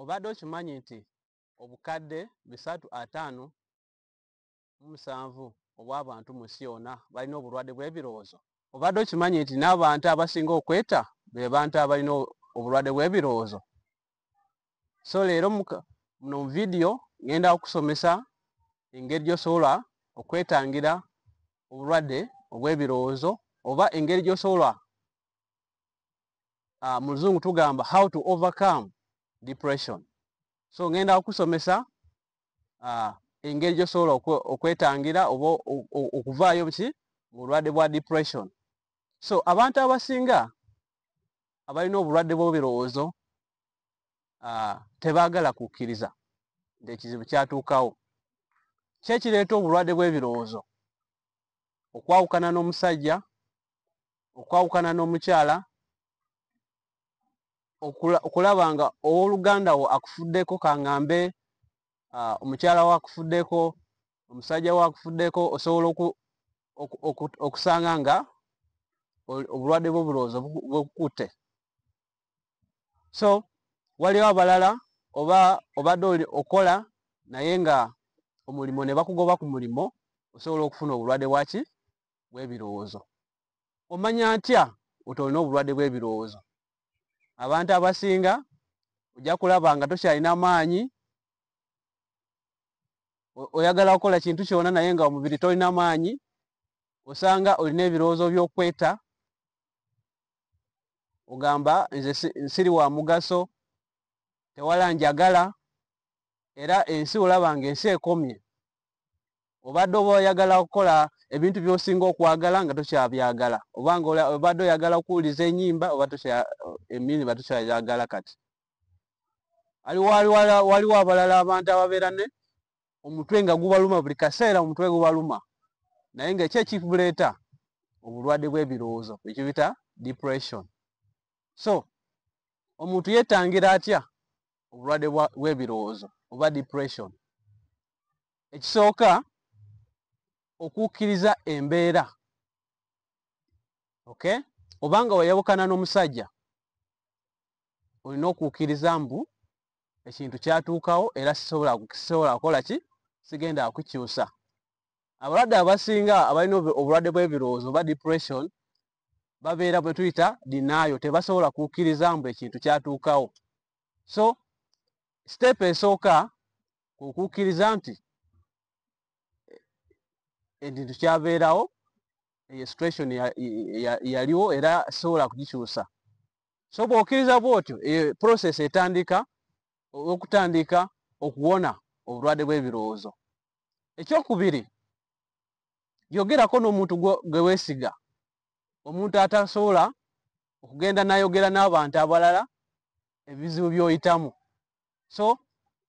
obadde okimanyi nti obukadde bisatu ataano mu musanvu obw'abantu mu nsi yonna balina obulwadde bw'ebirowoozo? Obadde okimanyi nti n'abantu abasinga okweta be bantu abalina obulwadde bw'ebirowoozo? So leero muno mu vidiyo ngenda okusomesa engeri gy'osobola okwetangira obulwadde obw'ebirowoozo oba engeri gy'osobola uh, mu luzungu tugamba how to overcome depression so ngenda okusomesa uh, engeri gyosobola okwetangira oba okuvaayo ki mu bulwadde bwa depression so abantu abasinga abalina obulwadde bw'ebirowoozo uh, tebaagala kukkiriza nti ekizibu kyatuukawo ki ekireeta obulwadde bw'ebirowoozo okwawukana n'omusajja okwawukana n'omukyala okulaba nga ow'oluganda wo akufuddeko kangambe ah, omukyala wo akufuddeko omusajja wo akufuddeko osobola okusanga nga obulwadde bw'obulowoozo bwekukutte so waliwo abalala oba obadde okola naye nga omulimu ne bakugoba ku mulimu osobola okufuna obulwadde bwaki bw'ebirowoozo. Omanya ntya nti olina obulwadde bw'ebirowoozo? Abantu abasinga ojja kulaba nga tokyalina maanyi, oyagala kukola kintu kyona naye nga omubiri tolina maanyi, osanga olina ebirowoozo by'okweta, ogamba nze siri wa mugaso, tewala njagala, era ensi olaba nga ensi ekomye. obadde oba oyagala okukola ebintu byosinga okwagala nga tokyabyagala obanga obadde oyagala okuwuliza enyimba oba emiriba tokyayagala kati waliwo abalala abantu ababeera ne omutwe nga gubaluma buli kaseera omutwe gubaluma naye nga ekyo ekibuleeta obulwadde bw'ebirowoozo ekibita depression so omuntu yetangira atya obulwadde bw'ebirowoozo oba depression ekisooka okukkiriza embeera okay obanga wayawukana n'omusajja olina okukkiriza mbu ekintu kyatuukawo era sisobola sisobola kukola ki sigenda akukyusa abalwadde abasinga abalina obulwadde bw'ebirowoozo oba depression babeera bwe tuyita dinaayo tebasobola kukkiriza mbu ekintu kyatuukawo so siteepu esooka kwe kukkiriza nti ekintu kyabeerawo eyo situation yaliwo era sobola kugikyusa so bw'okkiriza bw'otyo eyo process etandika okutandika okuwona obulwadde bw'ebirowoozo ekyokubiri yogerako n'omuntu gwe weesiga omuntu atasobola okugenda nayogera n'abantu abalala ebizibu by'oyitamu so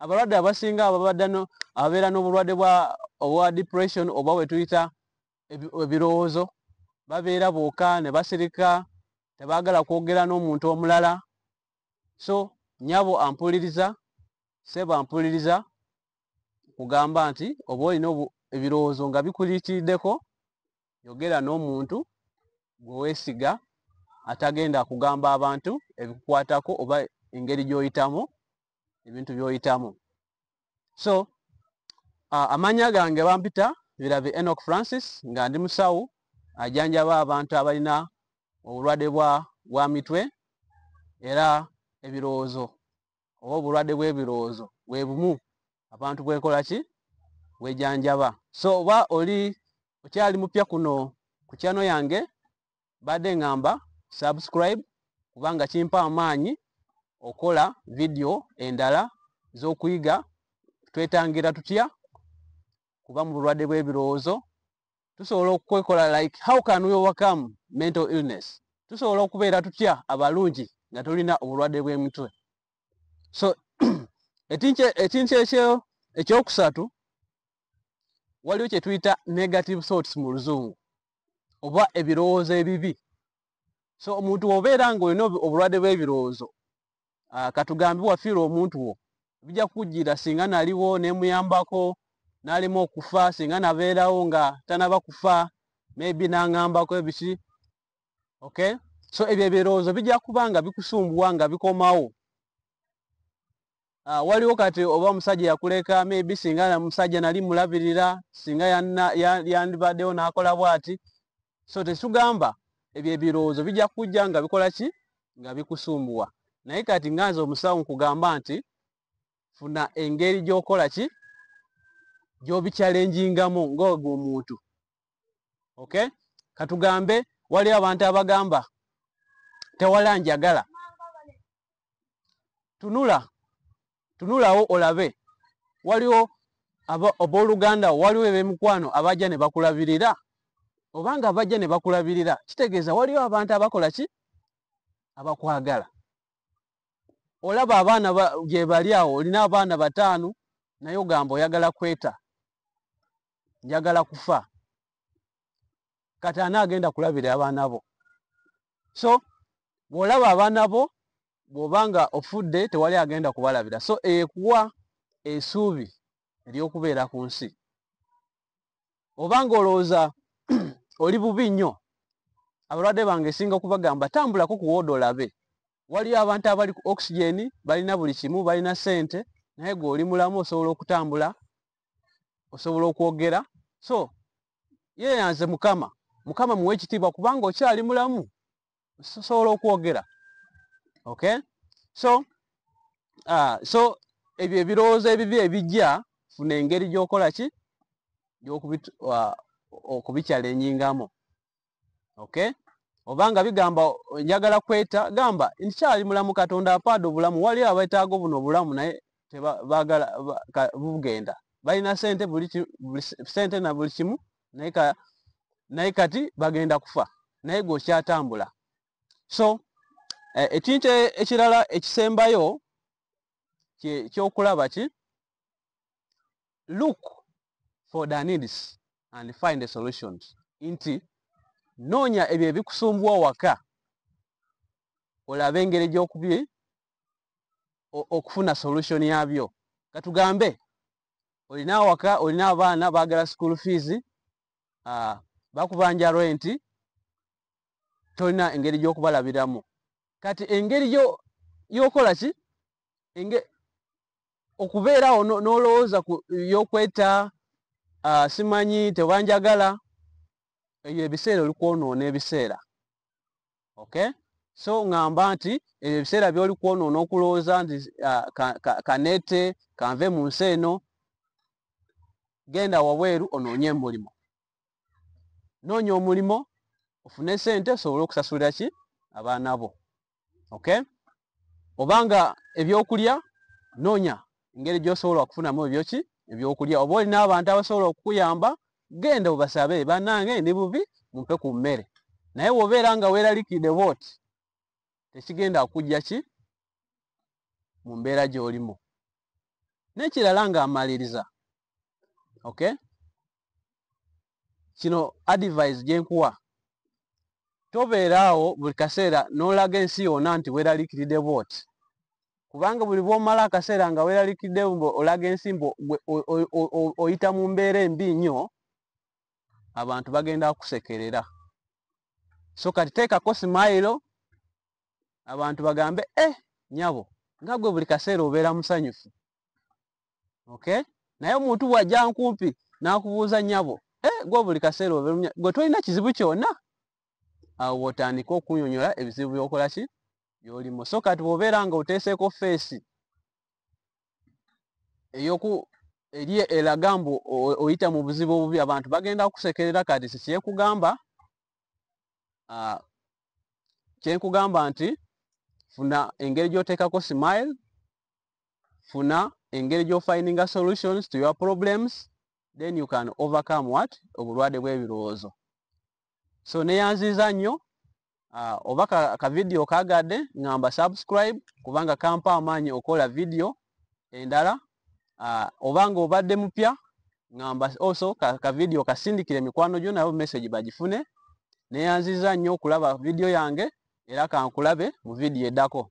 abalwadde abasinga ababadde ababeera n'obulwadde bwa obwa depression oba wetuyita ebirowoozo babeera booka ne basirika tebaagala kwogera n'omuntu omulala so nyabo ampuliriza seba ampuliriza kugamba nti oba olina ebirowoozo nga bikulitiddeko yogera n'omuntu gwe weesiga atagenda kugamba abantu ebikukwatako oba engeri gy'oyitamu ebintu by'oyitamu so uh, amannya gange bampita birabe enoch francis nga ndi musawo ajanjaba abantu abalina obulwadde bwa mitwe era ebirowoozo oba obulwadde bw'ebirowoozo bwe bumu abantu bwekola ki bwejanjaba so oba oli okyali mupya kuno ku kyano yange badde ngamba subscribe kubanga kimpa amaanyi okola vidiyo endala z'okuyiga twetangira tutya kuba mu bulwadde bw'ebirowoozo tusobola okwekola like how can we overcome mental illness tusobola okubeera tutya abalungi nga tulina obulwadde bw'emitwe so ekintu ekyo ekyokusatu waliwo kye tuyita negative thoughts mu luzungu oba ebirowoozo ebibi so omuntu obeera ng'olina obulwadde bw'ebirowoozo ah, katugambe wafiirwa omuntu wo bijja kukujjira singa naliwo nemuyambako nalimu okufa singa nabeerawo nga tanaba kufa maybe nangambako ebiki okay so ebyo ebirowoozo bijja kuba nga bikusumbuwa nga bikomawo Uh, waliwo kati oba omusajja yakuleka maybe singa musajja nali mulabirira singa yandibaddewo nakola bwati so tekitugamba ebyo ebirowoozo bijja kujja nga bikola ki nga bikusumbuwa naye kati nga nze omusawo nkugamba nti funa engeri gyokola ki gyobikyalenjingamu ngaogwo omuntu ok katugambe waliwo abantu abagamba tewala njagala tunula tunulawo olabe waliwo abooluganda wo waliwo ebemikwano abajja ne bakulabirira obanga abajja ne bakulabirira kitegeeza waliwo abantu abakola ki abakwagala olaba abaana gyebali awo olina abaana bataano naye ogamba oyagala kweta njagala kufa kati ani agenda kulabira abaana bo so bwolaba abaana bo bwoba nga ofudde tewali agenda kubalabira so ekuwa esuubi ery'okubeera ku nsi oba nga olowooza oli bubi nnyo abalwadde bange esinga okubagamba tambulako ku wooda olabe waliyo abantu abali ku oxygen balina buli kimu balina sente naye gwe oli mulamu osobola okutambula osobola okwogera so yeyanze mukama mukama muwe ekitiibwa kubanga okyali mulamu sosobola okwogera okay so uh, so ebyo ebirowoozo ebibi ebijja funa engeri gyokola ki okubikyalengingamu okay oba nga bigamba njagala kweta gamba nkyali mulamu katonda apaada obulamu waliyo abetaaga buno obulamu naye tebagala bugenda balina sente buli sente na buli kimu naye kati bagenda kufa naye gwe okyatambula so eh, ekintu e, ekirala ekisembayo kyokulaba ki look for the needs and find the solutions nti noonya ebyo ebikusumbuwa waka olaba engeri gyokubi okufuna solution yabyo katugambe olina awaka olina abaana bagala school fees uh, bakubanja renti tolina engeri gyokubalabiramu kati engeri yokola ki okubeerawo n'olowooza ku yokweta ah, simanyi tebanjagala ebyo ebiseera oli kwonoona ebiseera okay so ngamba nti ebyo ebiseera byoli kwonoona okulowooza nti ah, kanete kanve mu nsi eno genda wabweru onoonye emulimo noonya omulimo ofune sente osobole okusasulira ki abaana bo okay obanga ebyokulya nonya engeri gyosobola okufunamu ebyoki ebyokulya oba olina abantu abasobola okukuyamba genda obasabe banange ndi bubi mumpe ku mmere naye wobeera nga weralikide bot tekigenda kujja ki mu mbeera gyolimu nekirala nga amaliriza okay kino advise gyenkuwa tobeeraawo buli kaseera n'olaga ensi yona nti weraliikiride bwoti kubanga buli bwomala akaseera nga weraliikiride mbu olaga ensi mbu oyita mu mbeera embi nnyo abantu bagenda kusekerera so kati teekako simayiro abantu bagambe e eh, nyabo nga gwe buli kaseera obeera musanyufu okay naye omuntu bw'ajja nkumpi n'akubuuza nyabo eh, gwe buli kaseera oberumya gwe tolina kizibu kyona awo bw'otandika okunyonyola ebizibu by'okola ki by'olimu so kati bw'obeera nga oteeseeko feesi eyoku eri elaga mbu oyita mu buzibu obubi abantu bagenda kusekerera kati sikyekugamba ah, kyenkugamba nti funa engeri gy'oteekako smile funa engeri gyofindinga solutions to your problems then you can overcome what obulwade bwebirowoozo so neyanziza nnyo uh, oba ka, ka video kagadde ngamba subscribe kubanga kampa amaanyi okola video endala uh, oba nga obadde mupya ngamba also ka, ka video kasindikire mikwano gyo nabo message bagifune neyanziza nnyo okulaba video yange era kankulabe mu video edako